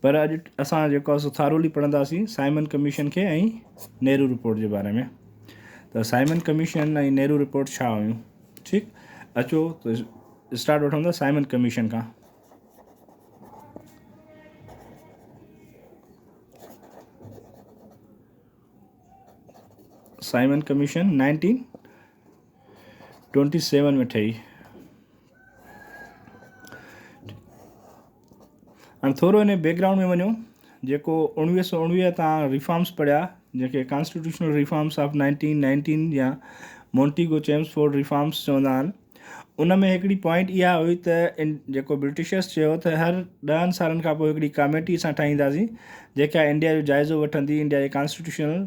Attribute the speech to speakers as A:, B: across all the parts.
A: پر اڄ اسان جيڪو آسو ٿارولي پڙهنداسين سائمن ڪميشن کي ۽ نهرو رپورٽ جي باري ۾ ته سائمن ڪميشن ۽ نهرو رپورٽ ڇا هيون ٺيڪ اچو ته اسٽارٽ وٺون ٿا سائمن ڪميشن کان Simon Commission nineteen twenty seven ۾ ٺهي هاڻي ٿورو ان بيڪ گرائونڊ ۾ وڃو جيڪو اڻويهه سو اڻويهه تان ريفارمس پڙهيا جيڪي constitutional reforms of nineteen nineteen يا مونٽيگو چيمسفورڊ ريفارمس چوندا آهن ان ۾ هڪڙي پوائنٽ اها هئي ته ان جيڪو برٽشرس چيو ته هر ڏهن سالن کان پوء هڪڙي ڪاميٽي اسان ٺاهينداسين جيڪا انڊيا جو جائزو وٺندي انڊيا جي ڪانسٽيٽيوشنل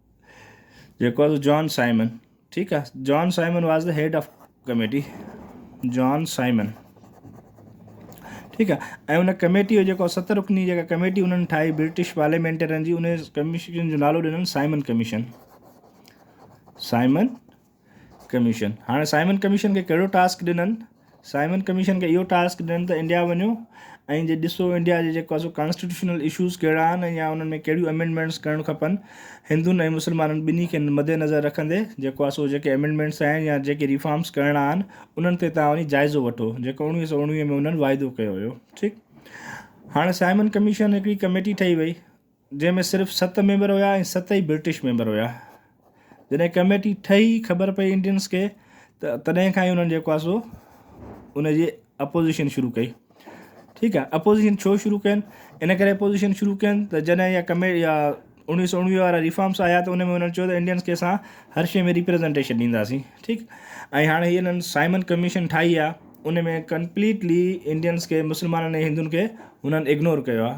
A: جيڪو آهي جان سائمن ٺيڪ آهي John Simon was the head of committee John Simon ٺيڪ آهي ان ڪميٽي جو جيڪو ست رکني جيڪا ڪميٽي انهن ٺاهي برٽش پارليامينٽرن جي ان ڪميشن جو نالو ڏنن سائمن ڪميشن سائمن ڪميشن هاڻي سائمن ڪميشن کي ڪهڙو ٽاسڪ ڏنن؟ سائمن ڪميشن کي اهو ٽاسڪ ڏنن ته انڊيا وڃو ۽ جي ڏسو انڊيا جي جيڪو سو ڪانسٽيٽيوشنل اشوز ڪهڙا آهن ۽ يا انهن ۾ ڪهڙيون امينڊمينٽس ڪرڻ کپن هندن ۽ مسلمانن ٻنهي کي مد نظر رکندي جيڪو آهي سو جيڪي امينڊمينٽس آهن يا جيڪي ريفارمس ڪرڻا آهن انهن تي توهان وڃي جائزو وٺو جيڪو اوڻويهه سؤ اوڻويهه ۾ انهن واعدو ڪيو هيو ٺيڪ هاڻي سائمن ڪميشن هڪڙي ڪميٽي ٺهي وئي جنهن ۾ صرف ست ميمبر هيا ۽ ست ئي برٽش ميمبر هيا. جڏهن ڪميٽي ٺهي خبر پئي انڊينس کي ته تڏهن کان ئي انهن جيڪو آهي سو ان جي اپوزيشن شروع ڪئي. ٺيڪ آهي اپوزيشن ڇو شروع ڪين ان ڪري اپوزيشن شروع ڪين ته جڏهن اها ڪمي اها اوڻيهه سؤ اوڻيهه وارا ريفارمس آيا ته ان ۾ انهن چيو ته انڊينس کي اسان هر شيء ۾ ريپريزنٽيشن ڏينداسين ٺيڪ ۽ هاڻي هي انهن سائمن ڪميشن ٺاهي آهي ان ۾ ڪمپليٽلي انڊينس کي مسلمانن ۽ هندن کي هنن اگنور ڪيو آهي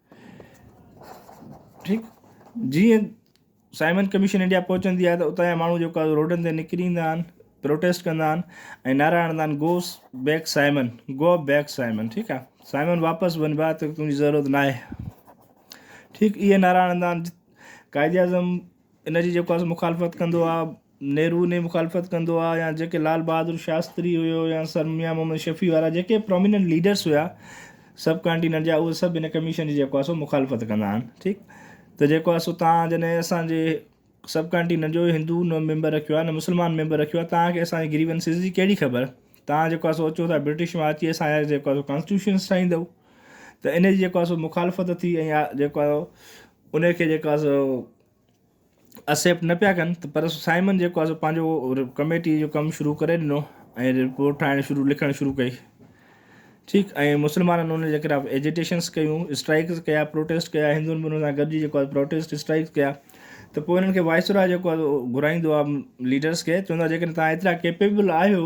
A: ٺيڪ جيئن سائمن ڪميشن انڊيا پهچندي آهي ته اتان جا ماڻهو جيڪو آهي روڊن تي نڪري ايندا آهن پروٽيسٽ ڪندا آهن ۽ نعرا هڻندا آهن goes back Simon go back Simon ٺيڪ آهي سائمن واپس وڃ بات تنهنجي ضرورت نا آهي ٺيڪ اهي نعرا هڻندا آهن قائد اعظم ان جي جيڪو آهي مخالفت ڪندو آهي نهرو ني مخالفت ڪندو آ يا جيڪي لال بهادر شاستري هيو يا سر ميان محمد شفيع وارا جيڪي پروميننٽ ليڊرس هيا سب ڪانٽيننٽ جا اهي سب هن ڪميشن جي جيڪو آ سو مخالفت ڪندا آهن ٺيڪ ته جيڪو آ سو تان جنهن اسان جي سب ڪانٽيننٽ جو هندو نه ميمبر رکيو آ نه مسلمان ميمبر رکيو آ تان کي اسان جي گريونسز جي ڪهڙي خبر تان جيڪو آ سو اچو ٿا برٽش مان اچي اسان جا جيڪو آ سو ڪانسٽيوشنس ٺاهيندؤ ته ان جي جيڪو آ سو مخالفت ٿي ۽ جيڪو آ ان کي جيڪو آ سو اسيپٽ نه پيا ڪن ته پر سائمن جيڪو آهي سو پنهنجو ڪميٽي جو ڪم شروع ڪري ڏنو ۽ رپورٽ ٺاهڻ شروع لکڻ شروع ڪئي ٺيڪ ۽ مسلمانن ان جي خلاف ايجيٽيشنس ڪيون اسٽرائڪس ڪيا پروٽيسٽ ڪيا هندن به ان سان گڏجي جيڪو آهي پروٽيسٽ اسٽرائڪس ڪيا ته پوء انهن کي وائسرا جيڪو آهي گهرائيندو آهي ليڊرس کي چوندو آهي جيڪڏهن تهان ايترا ڪيپيبل آهيو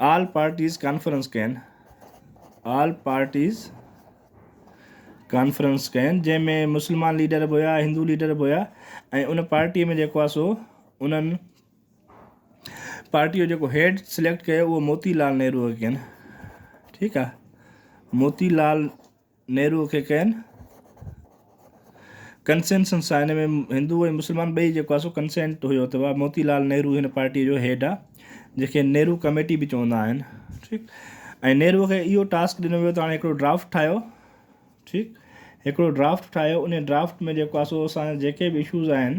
A: آل پارٽيز ڪانفرنس ڪين آل پارٽيز ڪانفرنس ڪين جنهن ۾ مسلمان ليڊر به هيا هندو ليڊر به هيا ۽ ان پارٽيء ۾ جيڪو آهي سو انهن پارٽيء جو جيڪو هيڊ سليڪٽ ڪيو اهو موتي لال نهروء کي ڪين ٺيڪ آهي موتي لال نهروء کي ڪئن ڪنسينسنس آهي ان ۾ هندو ۽ مسلمان ٻئي جيڪو آهي سو ڪنسينٽ هيو ته اها موتي لال نهرو هن پارٽيء جو هيڊ آهي جنهن کي نهرو ڪميٽي به چوندا آهن ٺيڪ ۽ نهروء کي اهو ٽاسڪ ڏنو ويو ته هاڻي هڪڙو ڊرافٽ ٺاهيو ٺيڪ هڪڙو ڊرافٽ ٺاهيو ان ڊرافٽ ۾ جيڪو آهي سو اسان جا جيڪي به اشوز آهن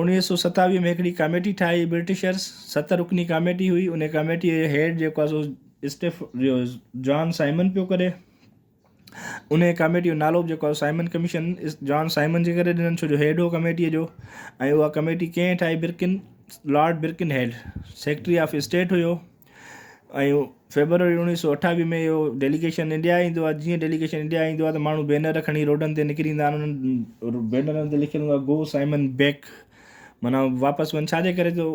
A: اڻويهه سؤ ستاويهه ۾ هڪڙي ڪاميٽي ٺاهي برٽشرس، ست رڪني ڪاميٽي هئي، انهي ڪاميٽيء جو هيڊ جيڪو آهي سو اسٽيف جو جان سائمن پيو ڪري، انهي ڪاميٽيء جو نالو به جيڪو آهي سائمن ڪميشن جان سائمن جي ڪري ڏنن ڇو جو هيڊ هو ڪاميٽيء جو ۽ اها ڪاميٽي ڪنهن ٺاهي Birken Lord Birkenhead secretary of state هيو. ۽ فيبروري اوڻيهه سؤ اٺاويهه ۾ اهو ڊيليگيشن انڊيا ايندو آهي جيئن ڊيليگيشن انڊيا ايندو آهي ته ماڻهو بينر کڻي روڊن تي نڪري ايندا آهن انهن بينرن تي لکيل هوندو آهي گو سائمن بيڪ معنيٰ واپس وڃ ڇاجي ڪري جو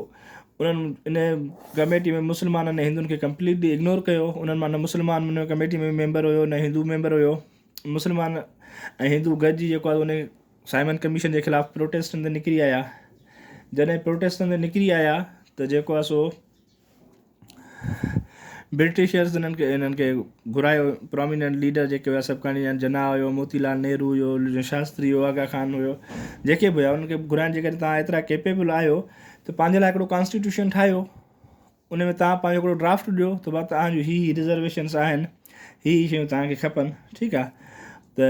A: انهن ان ڪميٽي ۾ مسلمانن ۽ هندوئن کي ڪمپليٽلي اگنور ڪيو انهن مان نه مسلمان ان ڪميٽي ۾ ميمبر هيو نه هندو ميمبر هيو مسلمان ۽ هندو گڏجي جيڪو آهي ان سائمن ڪميشن جي خلاف پروٽيسٽن تي نڪري آيا جڏهن پروٽيسٽن تي نڪري آيا ته جيڪو آهي سو برٽشرز انهن کي انهن کي گهرايو پراميننٽ ليڊر جيڪي هيا سڀ کڻي آيا جناح هيو موتي لال نهرو هيو شاستري هيو آغا خان هيو جيڪي به هيا انهن کي گهرايو جيڪڏهن توهان ايترا ڪيپيبل آهيو ته پنهنجي لاء هڪڙو ڪانسٽيٽيوشن ٺاهيو ان ۾ توهان پنهنجو هڪڙو ڊرافٽ ڏيو ته بابا توهان جون هي هي رزرويشنس آهن هي هي شيون توهان کي کپن ٺيڪ آهي ته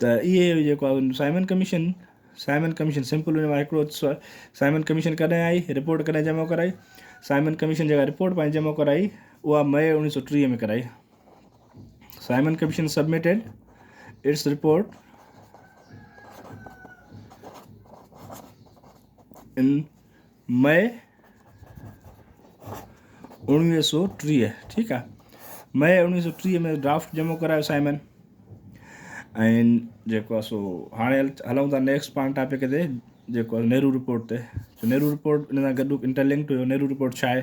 A: ته اهي جيڪو آهي Simon commission Simon commission simple ان مان هڪڙو سائمن ڪميشن ڪڏهن آئي رپورٽ ڪڏهن جمع ڪرائي سائمن ڪميشن جيڪا رپورٽ پنهنجي جمع ڪرائي اها مئي اوڻيهه سو ٽيهه ۾ ڪرائي Simon commission submitted its report in May اوڻويهه سو ٽيهه ٺيڪ آ مئي اوڻويهه سو ٽيهه ۾ ڊرافٽ جمع ڪرايو سائمن ۽ جيڪو آ سو هاڻي هلون ٿا نيڪسٽ پان ٽاپڪ تي جيڪو نهرو رپورٽ تي نهرو رپورٽ ان سان گڏ انٽرلنڪ هيو نهرو رپورٽ ڇا آهي